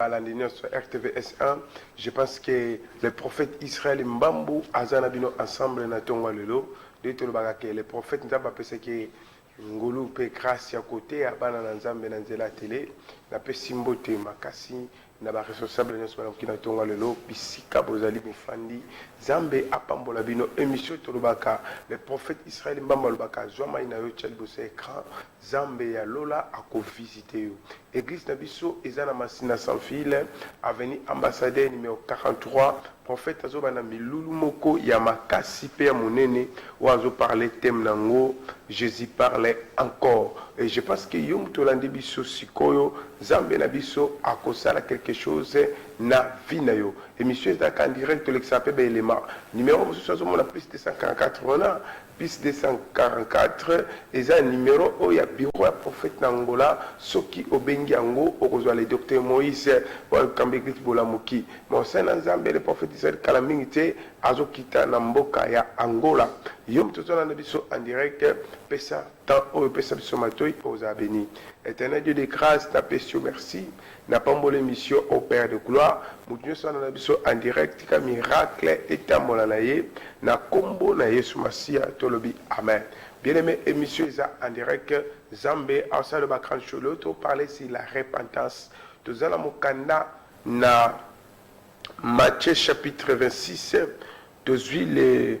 Balandi nionso ya RTV SA je pense que le prophète Israël Mbambu aza na bino ensemble na tongo ya lelo nde tolobaka que le prophète Nzambe apesaki ye ngolu pe grace ya koteya bana na Nzambe na nzela ya tele. Napesi mbote makasi na ba responsables nionso balamuki na tongo ya lelo bisika bozali bofandi Nzambe apambola bino. Emission tolobaka le prophète Israël Mbambu alobaka zua mayi na yo tia liboso ya ecran Zambe ya lola ako visite yo. Eglise na biso eza na masina sans fil avenue ambassadeur numero 43 prophète azo banda milulu moko ya makasi pe ya munene oyo azo parle thème na ngo Jesus parle encore et je pense que yo mutu olandi biso sikoyo zambe na biso ako sala quelque chose na vie na yo emission ezalaka en direct tolekisaka pe ba element numero mususu azo mona plus 244 wana Plus 244 eza numero oyo ya bureau ya prophete na Angola soki obengi yango okozua le Docteur Moise pona likambo ya eglise bolamuki mais osalle na nzambe le prophete ezali kala mingi te azo kita na mboka ya Angola yo mutu ozo landa biso en direct pesa temps oyo pesa biso matoyi ozala beni eternel Dieu de grace na pesi yo merci Na pamboli emission oh père de gloire mutu nioso alanda na biso en direct tika miracle etambola na ye na kombo na yesu masiya to lobi amen bien aime emission eza en direct zambe asala ba grand show leo to parler sur la repentance toza na mokanda na Matthieu chapitre 26 tozui le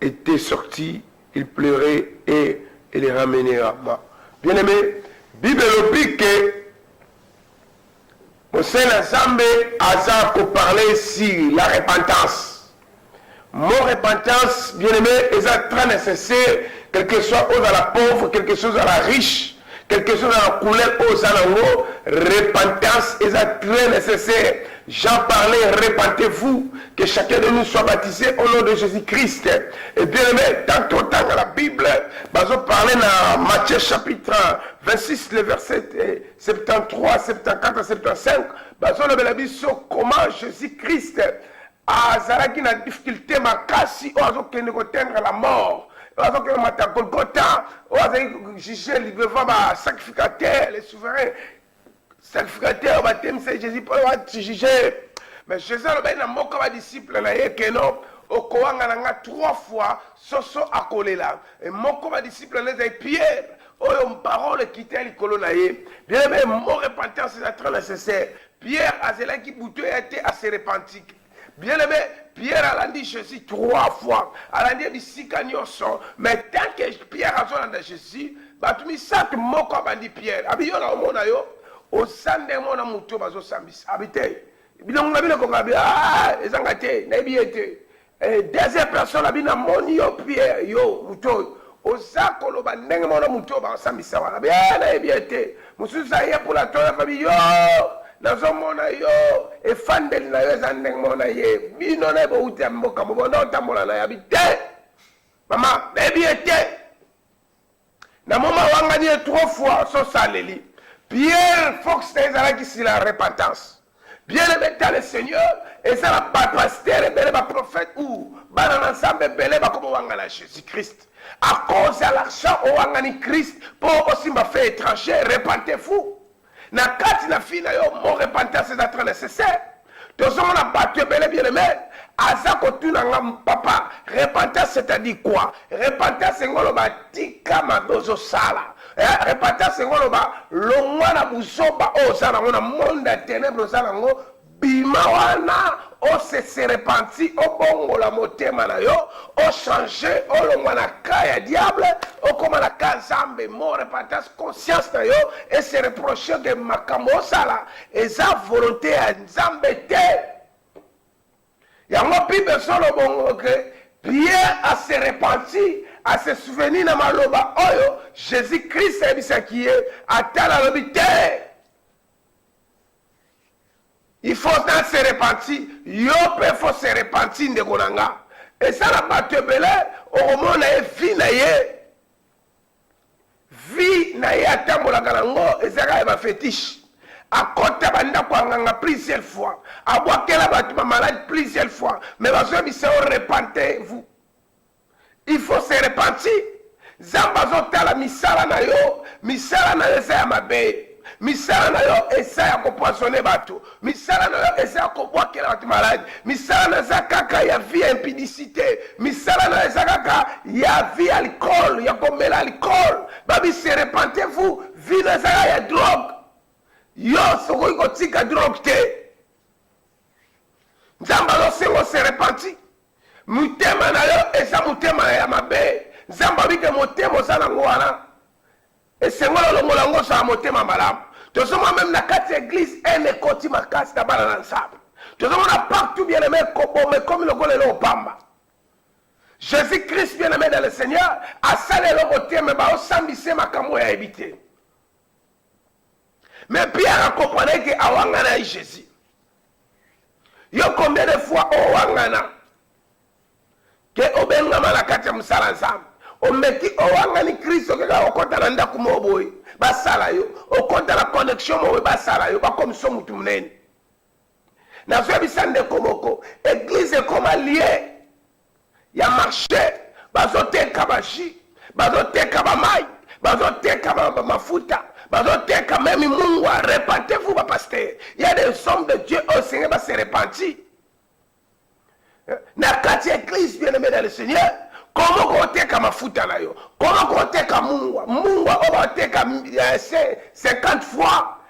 etait sorti, il pleurait et il est ramener à moi. Bien-aimé, Bible elobi que Mosè na Zambe aza ko parler sur la repentance. Mon repentance, bien-aimé, eza très nécessaire, quelque soit ozala pauvre, quelque soit ozala riche. Quel que soit la couleur oyo oza nango, repentance eza très necessaire. Jean parlait, repentez-vous, que chacun de nous soit baptisé au nom de Jésus-Christ. Et bien aimé, tant totanga la Bible, bazo parler na Matthieu chapitre 26, le verset 73, 74, 75, bazo lobela biso comment Jésus-Christ azalaki na difficulte makasi oyo azokende kotendre la mort oyo azokende komata golgota oyo azali juge devant basacrificateur le souverain sacrificateur batemisaki jésus mpo bajuge mais jésus alobaki na moko badisciple na ye keno okowanga na nga trois fois soso akolela e moko badisciple na ye ezali pierre oyo parole ekita likolo na ye bien aime mo repentance eza très nécessaire Pierre azelaki butu eya te a se repentit. Bien aime, Pierre alandi Jesus trois fois, alandi ye bisika nionso, mais tant que Pierre azolanda Jesus, batu misatu moko abandi Pierre, abi yo na omona yo oza ndenge moko na mutu oyo bazosambisa, abi te, bilongi na bino ekoka, abi ah eza nga te, nayebi ye te, Eh, deuxième personne abi na moni yo Pierre yo moto oyo oza koloba ndenge moko na moto oyo bakosambisa wana bie eh, nayebi ye te mosusu aye mpona toya fabi yo nazomona yo efandeli na yo eza ndenge moko na ye bino na ye bowuti ya mboka mobonda otambola na yabi te mama nayebi ye te na moma awangani ye trop fois so saleli pierre fox na ezalaki si la repentance bien aimé ta le seigneur eza na bapastere ebele baprofete ou bana na nzambe ebele bakoma owangana jésus christ à cause ya l'argent owangani christ mpo osimba fait étranger repente fou na kati na fille na yo mo repentance eza très nécessaire tozomona bato ebele bien aime aza kotuna nga papa repentance c'est-à-dire quoi repentance engo oloba tika mabe ozosala eh, repentance engo oloba longwa na buzoba oyo oza nango na monde ya tenebre oza nango Bima wana o se se repentit obongola motema na yo o change olongwa na cas ya diable okoma na cas nzambe mot repentance conscience na yo e se reprocher que makambo osala eza volonte ya nzambe te yango bible ezolo bongo que pierre a se repenti a se souvenir na maloba oyo jesus christ ayebisaki ye atala alobi te Il faut na se repentir, yo pe faut se repentir ndeko na nga. Eza na bato ebele okomona ye vie na ye vie na ye atambolaka na ngo ezalaka ya ba fetiche akota bandako ya nganga plusieurs fois abwakela bato bamalade plusieurs fois mais bazoyebisa yo repentez vous Il faut se repentir zambe azo tala misala na yo misala na yo eza ya mabe misala na yo eza ya ko poisonne batu misala na yo eza ya ko bwakela batu malade misala na eza kaka ya vie ya impudicite misala na yo eza kaka ya vie ya alcool ya ko mela alcool babi se repentez vous vie na eza ya drogue yo sokoki kotika drogue te nzambe azosenga ose repenti Mutema na yo eza mutema ya mabe nzambe alobi ke motema oza na ngo wana esengoli olongola ngo ozala motema malamu tozomona meme na kati ya eglise haine ekoti makasi na bana na nzambe tozomona partout bien aime koboma ekomi lokola eloko pamba jésus christ bien aime dans le seigneur asali eloko te me baosambise makambo oyo ayebi te me pierre akomprenaki awangana ye jésus Yo combien de fois owangana ke obengama na kati ya mosala Nzambe? Omeki owangani Kristo kaka okota na ndako moko boye basala yo, okota na connexion moko boye basala yo, bakomiso motu monene. Nazoyebisa ndeko moko, eglise ekoma lieu ya marche bazoteka ba jus bazoteka ba mai bazoteka ba, ba mafuta bazoteka meme mungwa repentez vous ba pasteur ya des hommes de dieu oyo senge ba se repenti eh, na kati ya eglise bien aimé dans le seigneur komo koteka mafuta na yo komo koteka mungwa mungwa oyo bateka 50 eh, fois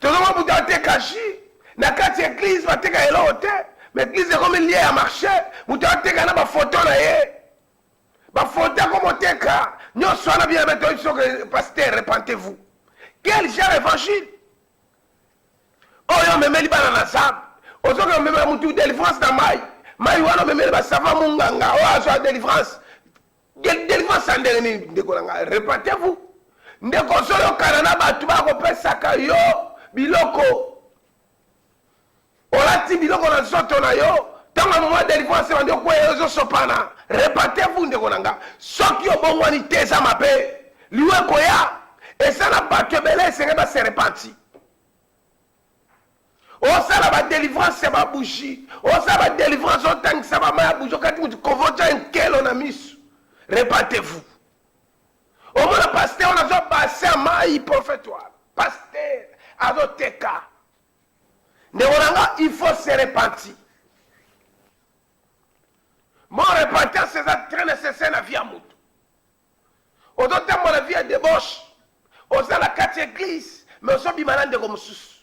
tozomona moto ateka jus na kati ya eglize bateka eloko te ma eglize ekomi lie ya marché moto ateka na bafoto na ye bafoto akomoteka nyonso wana bia betoyi biso ke paster repentez-vous quel genre évangile oyo omemeli bana na zambe ozoki omemela motu délivrance na mai mai wana omemeli basava monganga oyo azwa délivrance Delivrance ya ndenge nini ndeko na ngai? Repentez-vous. Ndeko ozoyokana na bato bakopesaka yo biloko, olati biloko na nzoto na yo, ntango ya moma delivrance ebandi okweya ozosopana. Repentez-vous ndeko na ngai. Soki obongwani te eza mabe, liwa ekoya. Eza na bato ebele esengeli base repenti. osala ba delivrance ya ba bougie osala ba delivrance otangisa ba maya bougie okati mutu kovoca nkelo na misu repate vous omona pasteur wana azwa base ya mayi prophète wana pasteur azoteka ndeko na nga il faut se repentir mo repentance eza très nécessaire na vie ya motu Ozo tambola vie ya debauche oza na kati ya eglise mais ozo bima na ndeko mususu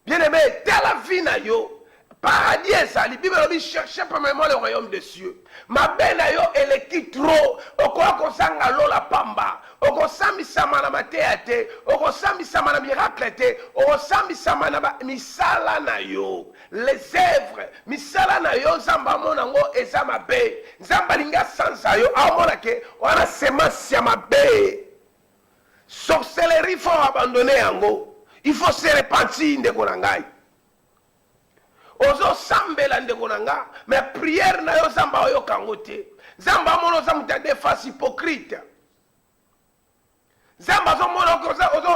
bien aime tala vie na yo paradis ezali bible elobi cherche premièrement le royaume de cieux mabe na yo eleki trop okoya kozanga lola pamba okosambisama na mateya te okosambisama na miracle te okosambisama na misala na yo Les œuvres, misala na yo Nzambe amona ngo eza mabe. Nzambe alingi asanza yo, amona ke wana semence ya mabe. Sorcellerie faut abandonner yango. Il faut se repentir ndeko na ngai. ozosambela ndeko na nga me priere na yo nzambe aoyoka yango te nzambe amona oza moto ya defense hypocrite nzambe azomona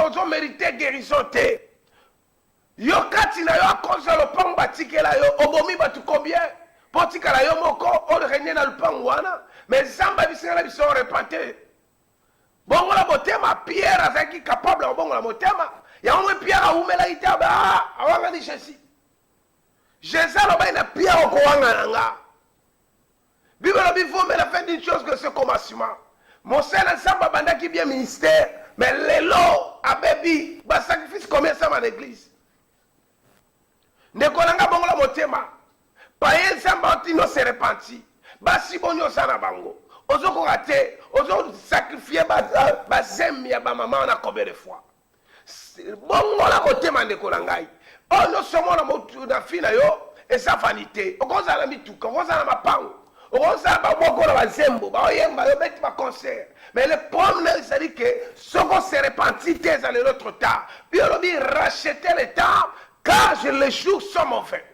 ozomerite guérison te Yo kati na yo a cause ya lopangu ba tikela yo obomi batu combien po otikala yo moko o regne na lupangu wana mais zambe abisi nga na biso repente bongola motema pierre azalaki capable ya kobongola motema yango mwe pierre awumelaki te ba awangani jesus jesus alobaki na pierre okowangana nga Bible elobi vaut mieux la fin d'une chose que ce commencement. Mosali na Nzambe abandaki bien ministère, mais lelo abebi ba sacrifice combien esama na eglise. Ndeko na nga bongola motema. Paye Nzambe otino se repenti. Basi boni oza na bango. Ozokoka te, ozo sacrifier ba, ba zemi ya ba maman na combien de fois. bongola motema ndeko na ngai oyo nyonso omona na fi na yo eza vanité okozala na mituka okozala na mapango okozala baboko na bazembo baoyemba yo beti baconcert mais le problème ezali ke soko se repentir te ezali notre temps yo olobi racheter le temps car les jours sont mauvais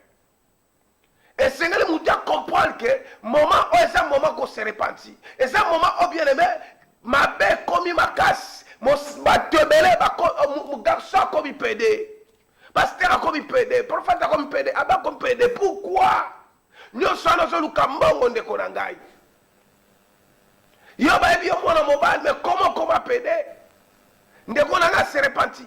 esengeli moto ya comprendre que moment oyo eza moment ko se repentir eza moment oyo bien aime mabe ekomi makasi bato ebele garçon akomi pede pasteur akomi pede prophète akomi pede abe akomi pede pourquoi nyonso wana ozoluka mbongo ndeko na ngai yo bayebi yo mwana mobali me koma okoma pede ndeko na ngai se repentir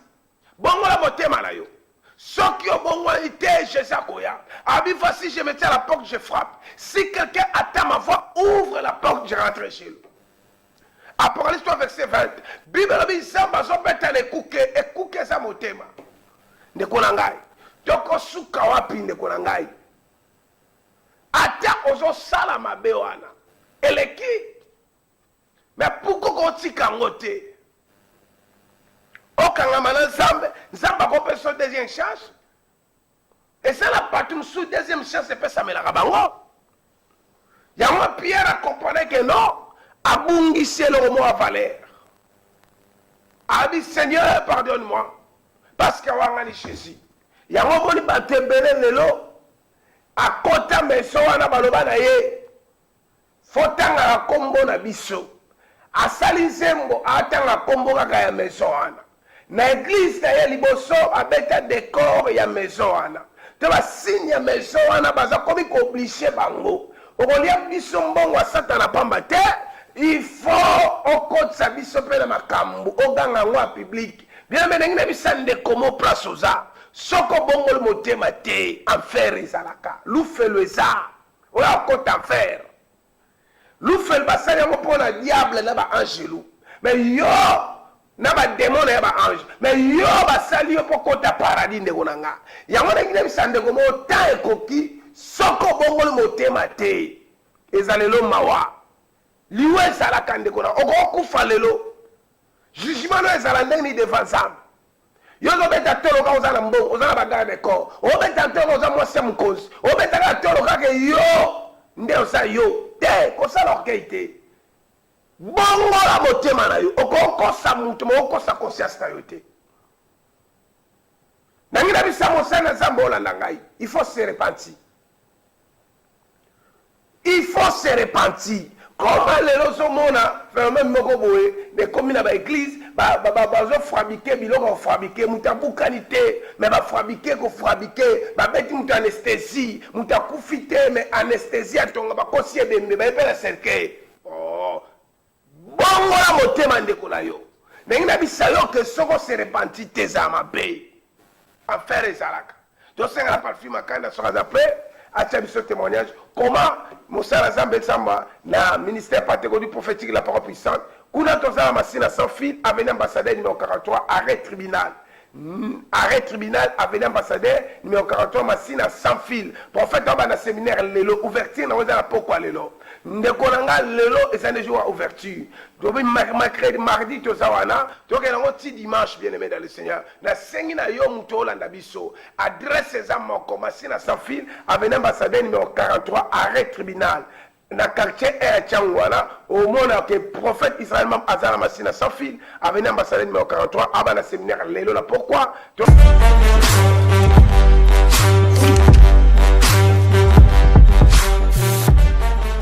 Bongola motema na yo soki obongoli te Jesus akoya abi fois si je me tiens à la porte je frappe si quelqu'un attend ma voix ouvre la porte je rentre chez lui Apocalypse 3 verset 20 Bible elobi Nzambe azobeta na ekuke ekuke eza motema ndeko na ngai tokosuka wapi ndeko na ngai ata ozosala mabe wana eleki Mais pourquoi ko tika yango te? Okangama na Nzambe, Nzambe akopesa yo deuxième chance. Eza na bato mosusu deuxième chance epesamelaka bango. Yango Pierre akomprenait que non, abungisi eloko moko ya valeur. Abi Seigneur, pardonne-moi parce que awangani Jésus. Yango omoni bato ebele lelo akota maison wana baloba na ye Faut tangaka kombo na biso. Asali nzembo atanga kombo kaka ya maison wana. Na eglise na ye liboso abeta decor ya maison wana. To ba signe ya maison wana baza komi ko oblige bango. Okolia biso mbongo ya satana pamba te. Il faut okotisa biso pe na makambu oganga yango ya public. Bien aime ndenge na bisa ndeko mo place oza. Soki obongoli motema te enfer ezalaka. Lufelo eza. Oyo akota ferre lufel basali yango pona diable na ba angelu mais yo na ba demon na ya ba ange mais yo basali yo po kota paradis ndeko na nga yango na kinebisa ndeko moko temps ekoki soki obongoli motema te ezalelo mawa liwa ezalaka ndeko na okokufa lelo jugement no ezala ndenge ni devant nzambe Yo ozobeta tolo kaka oza na mbongo, oza na bagara de corps. Obeta tolo oza mwasi ya mokonzi. Obeta kaka tolo kaka yo nde oza yo. Te, kosala orgueil te. Bongola motema na yo. Okokosa moto, mais okosa conscience na yo te. Nangi na bisa mosana Nzambe olanda ngai. Il faut se repentir. Il faut se repentir comment lelo ozo mona phenomène moko boye na ekomi na ba eglise ba ba bazo frabique biloko ya frabique mutu abukani te mais ba frabique ko frabique ba beti mutu anesthesie mutu akufi te mais anesthesie atonga bakosi ebembe baye pe na cercueil oh Bongola motema ndeko na yo. Nalingi nabisa yo que soki o se repentit te ezala mabe. Enfer ezalaka. Tosenga na Palfi Makanda soki aza pret atia biso temoignage comment mosala Zambe esamba na ministère Pantecote prophetique la parole puissante. Kuna toza na Masina sans fil avenue ambassadeur numero 43 arret tribunal. Arret tribunal avenue ambassadeur numero 43 masina sans fil prophète oba na seminaire lelo ouverture na oza na pokwa lelo ndeko na nga lelo eza ne jour ya ouverture dobi mercredi mardi toza wana toke na ngo ti dimanche bien aimé dans le seigneur na sengi na yo muto olanda biso adresse eza moko masina sans fil avenue ambassadeur numero 43 arret tribunal na quartier 1 ya Tshangu wana omona ke prophète Israël Mam aza na Masina sans fil avenue ambassadeur numéro 43 aba na séminaire lelo na pourquoi